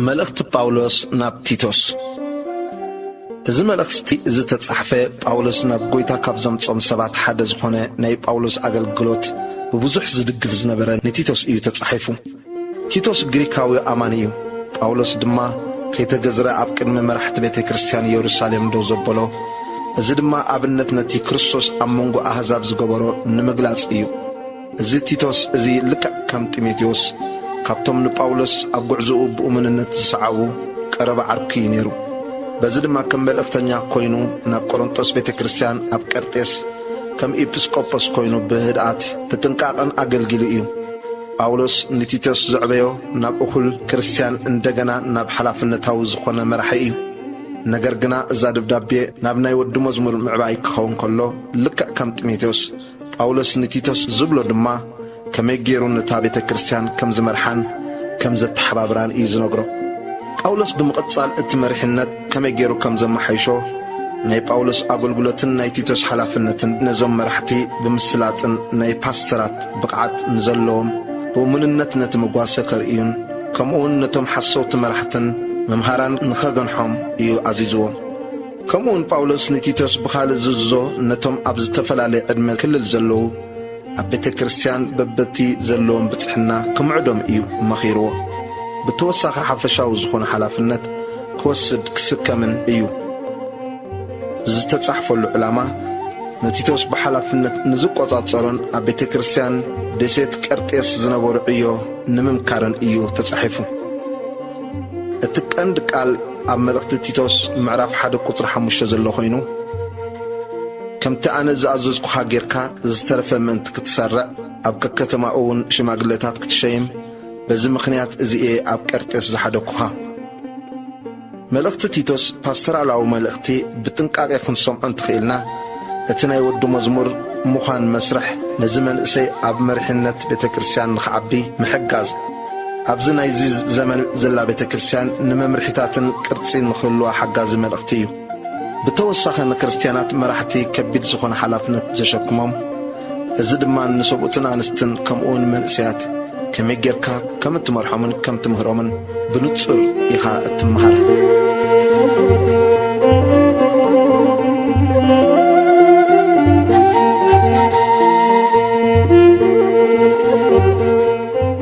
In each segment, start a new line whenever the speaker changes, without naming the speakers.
መልእኽቲ ጳውሎስ ናብ ቲቶስ እዚ መልእኽቲ እዚ ተጻሕፈ ጳውሎስ ናብ ጐይታ ካብ ዘምጾም ሰባት ሓደ ዝኾነ ናይ ጳውሎስ ኣገልግሎት ብብዙሕ ዝድግፍ ዝነበረ ንቲቶስ እዩ ተጻሒፉ። ቲቶስ ግሪካዊ ኣማኒ እዩ። ጳውሎስ ድማ ከይተገዝረ ኣብ ቅድሚ መራሕቲ ቤተ ክርስቲያን የሩሳሌም ደው ዘበሎ፣ እዚ ድማ ኣብነት ነቲ ክርስቶስ ኣብ መንጎ ኣህዛብ ዝገበሮ ንምግላጽ እዩ። እዚ ቲቶስ እዚ ልክዕ ከም ጢሞቴዎስ ካብቶም ንጳውሎስ ኣብ ጕዕዞኡ ብእሙንነት ዝሰዓቡ ቀረባ ዓርኩ እዩ ነይሩ። በዚ ድማ ከም መልእኽተኛ ኰይኑ ናብ ቆሮንጦስ ቤተ ክርስቲያን ኣብ ቀርጤስ ከም ኢጲስቆጶስ ኰይኑ ብህድኣት ብጥንቃቐን ኣገልጊሉ እዩ። ጳውሎስ ንቲቶስ ዘዕበዮ ናብ እኹል ክርስትያን እንደገና ናብ ሓላፍነታዊ ዝኾነ መራሒ እዩ። ነገር ግና እዛ ደብዳቤ ናብ ናይ ወዲ መዝሙር ምዕባይ ክኸውን ከሎ ልክዕ ከም ጢሞቴዎስ ጳውሎስ ንቲቶስ ዝብሎ ድማ ከመይ ገይሩ ነታ ቤተ ክርስትያን ከም ዝመርሓን ከም ዘተሓባብራን እዩ ዝነግሮ። ጳውሎስ ብምቕጻል እቲ መሪሕነት ከመይ ገይሩ ከም ዘመሓይሾ፣ ናይ ጳውሎስ ኣገልግሎትን ናይ ቲቶስ ሓላፍነትን ነዞም መራሕቲ ብምስላጥን ናይ ፓስተራት ብቕዓት ንዘለዎም ብእሙንነት ነቲ መጓሰ ከርእዩን ከምኡውን ነቶም ሓሰውቲ መራሕትን መምሃራን ንኸገንሖም እዩ ኣዚዝዎም። ከምኡውን ጳውሎስ ንቲቶስ ብኻልእ ዝእዝዞ ነቶም ኣብ ዝተፈላለየ ዕድመ ክልል ዘለዉ ኣብ ቤተ ክርስቲያን በበቲ ዘለዎም ብጽሕና ክምዕዶም እዩ መኺርዎ። ብተወሳኺ ሓፈሻዊ ዝኾነ ሓላፍነት ክወስድ ክስከምን እዩ። እዚ ዝተጻሕፈሉ ዕላማ ንቲቶስ ብሓላፍነት ንዝቆጻጸሮን ኣብ ቤተ ክርስቲያን ደሴት ቀርጤስ ዝነበሩ ዕዮ ንምምካርን እዩ ተጻሒፉ። እቲ ቀንዲ ቃል ኣብ መልእኽቲ ቲቶስ ምዕራፍ ሓደ ቁጽሪ ሓሙሽተ ዘሎ ኮይኑ ከምቲ ኣነ ዝኣዘዝኩኻ ጌርካ ዝተረፈ ምእንቲ ክትሰርዕ ኣብ ከከተማኡውን ሽማግለታት ክትሸይም በዚ ምኽንያት እዚ እየ ኣብ ቀርጤስ ዝሓደግኩኻ። መልእኽቲ ቲቶስ ፓስተራላዊ መልእኽቲ ብጥንቃቄ ክንሰምዖ እንተኽኢልና እቲ ናይ ወዲ መዝሙር ምዃን መስርሕ ነዚ መንእሰይ ኣብ መሪሕነት ቤተ ክርስቲያን ንኽዓቢ ምሕጋዝ ኣብዚ ናይዚ ዘመን ዘላ ቤተ ክርስቲያን ንመምርሒታትን ቅርጺ ንኽህልዋ ሓጋዚ መልእኽቲ እዩ። ብተወሳኺ ንክርስትያናት መራሕቲ ከቢድ ዝኾነ ሓላፍነት ዘሸክሞም፣ እዚ ድማ ንሰብኡትን ኣንስትን ከምኡውን መንእሰያት ከመይ ጌርካ ከም እትመርሖምን ከም ትምህሮምን ብንጹር ኢኻ እትመሃር።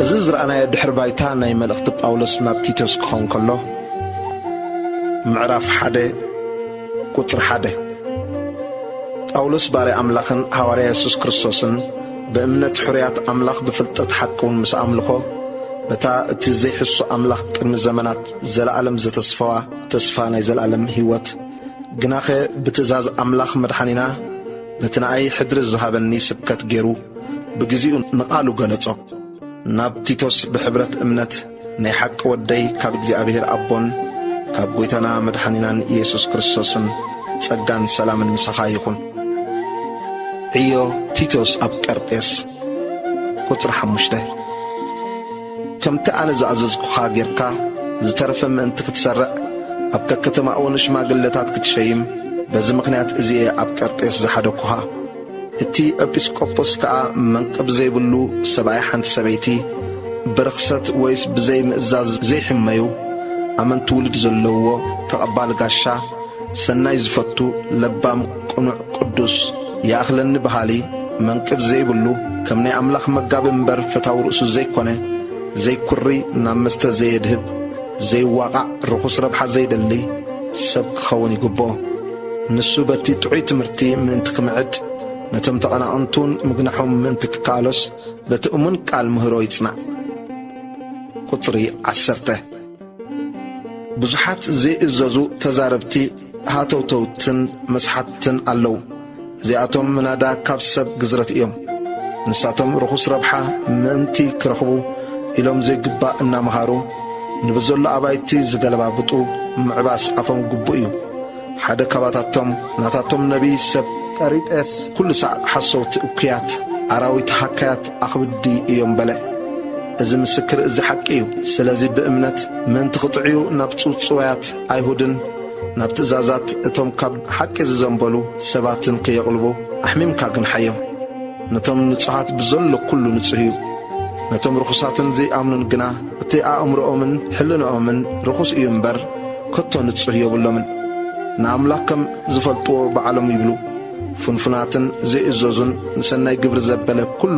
እዚ ዝረኣናዮ ድሕሪ ባይታ ናይ መልእኽቲ ጳውሎስ ናብ ቲቶስ ክኸውን ከሎ፣ ምዕራፍ ሓደ ቁጽሪ ሓደ ጳውሎስ ባርያ ኣምላኽን ሃዋርያ የሱስ ክርስቶስን ብእምነት ሕሩያት ኣምላኽ ብፍልጠት ሓቂ እውን ምስ ኣምልኾ በታ እቲ ዘይሕሱ ኣምላኽ ቅድሚ ዘመናት ዘለዓለም ዘተስፈዋ ተስፋ ናይ ዘለዓለም ህይወት ግናኸ ብትእዛዝ ኣምላኽ መድሓኒና በቲ ንኣይ ሕድሪ ዝሃበኒ ስብከት ገይሩ ብግዜኡ ንቓሉ ገለጾ ናብ ቲቶስ ብሕብረት እምነት ናይ ሓቂ ወደይ ካብ እግዚኣብሔር ኣቦን ካብ ጐይታና መድሓኒናን ኢየሱስ ክርስቶስን ጸጋን ሰላምን ምሳኻ ይኹን። ዕዮ ቲቶስ ኣብ ቀርጤስ ቁጽሪ ሓሙሽተ ከምቲ ኣነ ዝኣዘዝኩኻ ጌርካ ዝተረፈ ምእንቲ ክትሰርዕ ኣብ ከከተማኡ ንሽማግለታት ክትሸይም በዚ ምኽንያት እዚ እየ ኣብ ቀርጤስ ዝሓደግኩኻ። እቲ ኤጲስቆጶስ ከኣ መንቅብ ዘይብሉ ሰብኣይ ሓንቲ ሰበይቲ ብርኽሰት ወይስ ብዘይ ምእዛዝ ዘይሕመዩ ኣመንቲ ውሉድ ዘለውዎ ተቐባሊ ጋሻ ሰናይ ዝፈቱ ለባም ቅኑዕ ቅዱስ ይኣኽለኒ በሃሊ መንቅብ ዘይብሉ ከም ናይ ኣምላኽ መጋቢ እምበር ፈታዊ ርእሱ ዘይኮነ ዘይኩሪ ናብ መስተ ዘየድህብ ዘይዋቓዕ ርኹስ ረብሓ ዘይደሊ ሰብ ክኸውን ይግብኦ። ንሱ በቲ ጥዑይ ትምህርቲ ምእንቲ ክምዕድ፣ ነቶም ተቐናቕንቱን ምግናሖም ምእንቲ ክከኣሎስ፣ በቲ እሙን ቃል ምህሮ ይጽናዕ። ቁጽሪ ዓሰርተ፣ ብዙሓት ዘይእዘዙ ተዛረብቲ ሃተውተውትን መስሓትትን ኣለዉ። እዚኣቶም ምናዳ ካብ ሰብ ግዝረት እዮም። ንሳቶም ርኹስ ረብሓ ምእንቲ ክረኽቡ ኢሎም ዘይግባእ እናመሃሩ ንብዘሎ ኣባይቲ ዝገለባብጡ ምዕባስ ኣፎም ግቡእ እዩ። ሓደ ካባታቶም ናታቶም ነቢይ ሰብ ቀሪጤስ ኩሉ ሳዕ ሓሰውቲ እኩያት ኣራዊት ሃካያት ኣኽብዲ እዮም በለ። እዚ ምስክር እዚ ሓቂ እዩ። ስለዚ ብእምነት ምእንቲ ክጥዕዩ ናብ ጽውጽዋያት ኣይሁድን ናብ ትእዛዛት እቶም ካብ ሓቂ ዝዘንበሉ ሰባት እንክየቕልቡ ኣሕሚምካ ግንሓዮም። ነቶም ንጹሃት ብዘሎ ኩሉ ንጹህ እዩ። ነቶም ርኹሳትን ዘይኣምኑን ግና እቲ ኣእምሮኦምን ሕልንኦምን ርኹስ እዩ እምበር ከቶ ንጹህ የብሎምን። ንኣምላኽ ከም ዝፈልጥዎ ባዕሎም ይብሉ። ፍንፉናትን ዘይእዘዙን ንሰናይ ግብሪ ዘበለ ኩሉ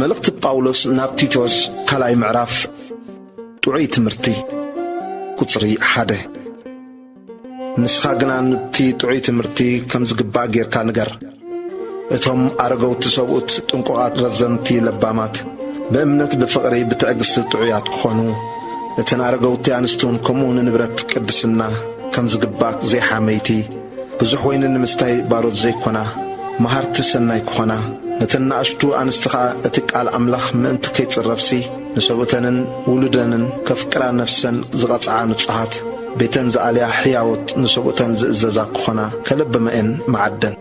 መልእኽቲ ጳውሎስ ናብ ቲቶስ ካልኣይ ምዕራፍ ጥዑይ ትምህርቲ ቁጽሪ ሓደ ንስኻ ግና ኑቲ ጥዑይ ትምህርቲ ከም ዝግባእ ጌርካ ንገር። እቶም ኣረገውቲ ሰብኡት ጥንቁቓት፣ ረዘንቲ፣ ለባማት፣ ብእምነት ብፍቕሪ ብትዕግሥቲ ጥዑያት ክኾኑ እተን ኣረገውቲ ኣንስትውን ከምኡ ንንብረት ቅድስና ከም ዝግባእ ዘይሓመይቲ ብዙሕ ወይኒ ንምስታይ ባሮት ዘይኮና፣ መሃርቲ ሰናይ ክኾና፣ ነተን ናእሽቱ ኣንስቲ ኸኣ እቲ ቃል ኣምላኽ ምእንቲ ከይጽረፍሲ ንሰብኡተንን ውሉደንን ከፍቅራ ነፍሰን ዝቐጽዓ ንጹሃት፣ ቤተን ዝኣልያ ሕያዎት ንሰብኡተን ዝእዘዛ ክኾና ከለብማ'የን መዓደን።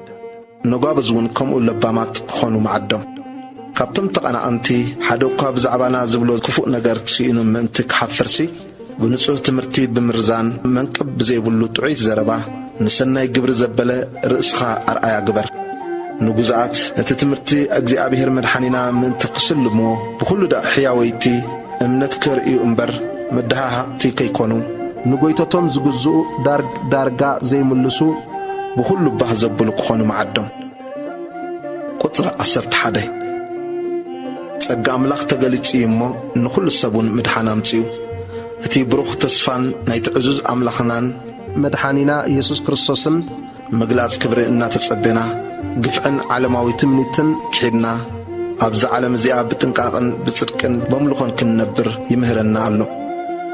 ነጓብዝ እውን ከምኡ ለባማት ክኾኑ መዓዶም። ካብቶም ተቐናቐንቲ ሓደ እኳ ብዛዕባና ዝብሎ ክፉእ ነገር ስኢኑ ምእንቲ ክሓፍርሲ፣ ብንጹህ ትምህርቲ ብምርዛን መንቅብ ብዘይብሉ ጥዑይት ዘረባ ንሰናይ ግብሪ ዘበለ ርእስኻ ኣርኣያ ግበር። ንጉዙኣት እቲ ትምህርቲ እግዚኣብሔር መድሓኒና ምእንቲ ክስልምዎ ብኹሉ ደቕ ሕያወይቲ እምነት ከርእዩ እምበር መደሃሃቕቲ ከይኮኑ። ንጎይቶቶም ዝግዝኡ ዳርግ ዳርጋ ዘይምልሱ ብኹሉ ባህ ዘብሉ ክኾኑ መዓዶም። ቁጽሪ ዓሰርተ ሓደ ጸጋ ኣምላኽ ተገሊጹ እዩ እሞ ንኹሉ ሰብ ውን ምድሓን ኣምጺኡ። እቲ ብሩኽ ተስፋን ናይቲ ዕዙዝ ኣምላኽናን። መድሓኒና የሱስ ክርስቶስን ምግላጽ ክብሪ እናተጸቤና ግፍዕን ዓለማዊ ትምኒትን ክሒድና ኣብዛ ዓለም እዚኣ ብጥንቃቕን ብጽድቅን በምልኾን ክንነብር ይምህረና ኣሎ።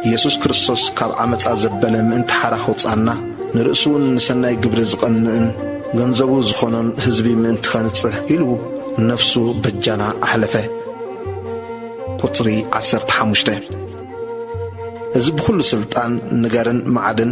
ኢየሱስ ክርስቶስ ካብ ዓመጻ ዘበለ ምእንቲ ሓራ ከውጽኣና ንርእሱውን ንሰናይ ግብሪ ዝቐንእን ገንዘቡ ዝኾኖን ሕዝቢ ምእንቲ ከንጽህ ኢሉ ነፍሱ በጃና ኣሕለፈ። ቁጽሪ ዓሰርተ ሓሙሽተ እዚ ብኹሉ ሥልጣን ንገርን መዓድን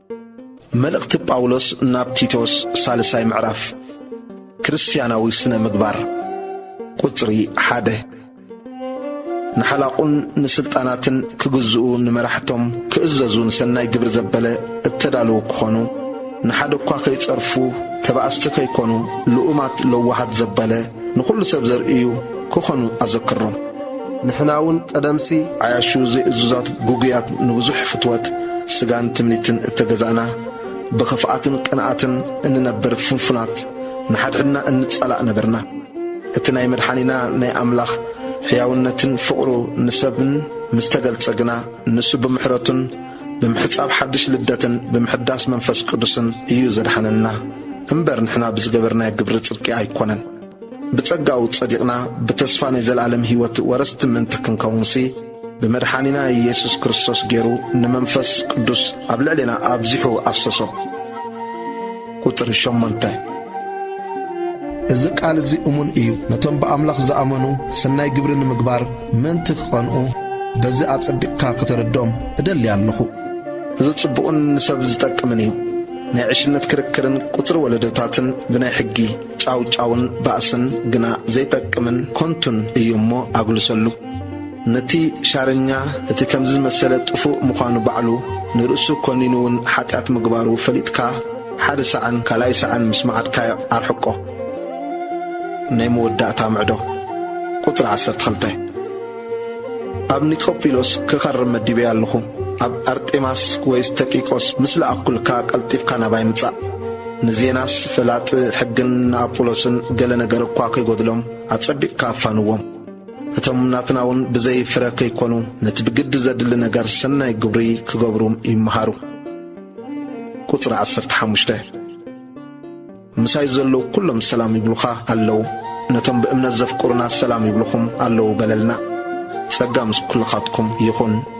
መልእኽቲ ጳውሎስ ናብ ቲቶስ ሳልሳይ ምዕራፍ ክርስትያናዊ ስነ ምግባር ቁጽሪ ሓደ ንሓላቑን ንስልጣናትን ክግዝኡ ንመራሕቶም ክእዘዙ ንሰናይ ግብሪ ዘበለ እተዳለዉ ክኾኑ ንሓደ እኳ ከይጸርፉ ተባእስቲ ከይኮኑ ልኡማት ለዋሃት ዘበለ ንኹሉ ሰብ ዘርእዩ ክኾኑ ኣዘክሮም። ንሕናውን ቀደምሲ ዓያሹ ዘይእዙዛት ግጉያት ንብዙሕ ፍትወት ስጋን ትምኒትን እተገዛእና ብኽፍኣትን ቅንኣትን እንነብር ፍንፉናት ንሓድሕድና እንጸላእ ነበርና። እቲ ናይ መድሓኒና ናይ ኣምላኽ ሕያውነትን ፍቕሩ ንሰብን ምስ ተገልጸ ግና ንሱ ብምሕረቱን ብምሕጻብ ሓድሽ ልደትን ብምሕዳስ መንፈስ ቅዱስን እዩ ዘድሓነና እምበር ንሕና ብዝገበርናዮ ግብሪ ጽድቂ ኣይኮነን። ብጸጋኡ ጸዲቕና ብተስፋ ናይ ዘለኣለም ሕይወት ወረስቲ ምእንቲ ክንከውንሲ ብመድሓኒና ኢየሱስ ክርስቶስ ገይሩ ንመንፈስ ቅዱስ ኣብ ልዕሌና ኣብዚሑ ኣፍሰሶ። ቁጽሪ ሸሞንተ እዚ ቃል እዚ እሙን እዩ፣ ነቶም ብኣምላኽ ዝኣመኑ ሰናይ ግብሪ ንምግባር ምእንቲ ክቐንኡ በዚ ኣጸቢቕካ ከተረድኦም እደሊ ኣለኹ። እዚ ጽቡቕን ንሰብ ዝጠቅምን እዩ። ናይ ዕሽነት ክርክርን ቁጽሪ ወለዶታትን ብናይ ሕጊ ጫውጫውን ባእስን ግና ዘይጠቅምን ኮንቱን እዩ እሞ ኣግልሰሉ። ነቲ ሻረኛ እቲ ከምዚ ዝመሰለ ጥፉእ ምዃኑ ባዕሉ ንርእሱ ኮኒኑ ውን ሓጢኣት ምግባሩ ፈሊጥካ ሓደ ሳዕን ካልኣይ ሳዕን ምስ መዓድካዮ ኣርሕቆ። ናይ መወዳእታ ምዕዶ ቁጽሪ ዓሰርተ ክልተ። ኣብ ኒቆጵሎስ ክኸርም መዲበያ ኣለኹ። ኣብ ኣርጤማስ ወይስ ተቂቆስ ምስ ለኣኽኩልካ ቀልጢፍካ ናባይ ምጻእ። ንዜናስ ፈላጢ ሕግን ንኣጵሎስን ገለ ነገር እኳ ከይጎድሎም ኣጸቢቕካ ኣፋንዎም። እቶም ናትና እውን ብዘይ ፍረ ከይኮኑ ነቲ ብግዲ ዘድሊ ነገር ሰናይ ግብሪ ክገብሩ ይመሃሩ። ቁጽሪ ዓሰርተ ሓሙሽተ ምሳይ ዘለዉ ኩሎም ሰላም ይብሉኻ ኣለዉ፣ ነቶም ብእምነት ዘፍቅሩና ሰላም ይብሉኹም ኣለዉ በለልና። ጸጋ ምስ ኩልኻትኩም ይኹን።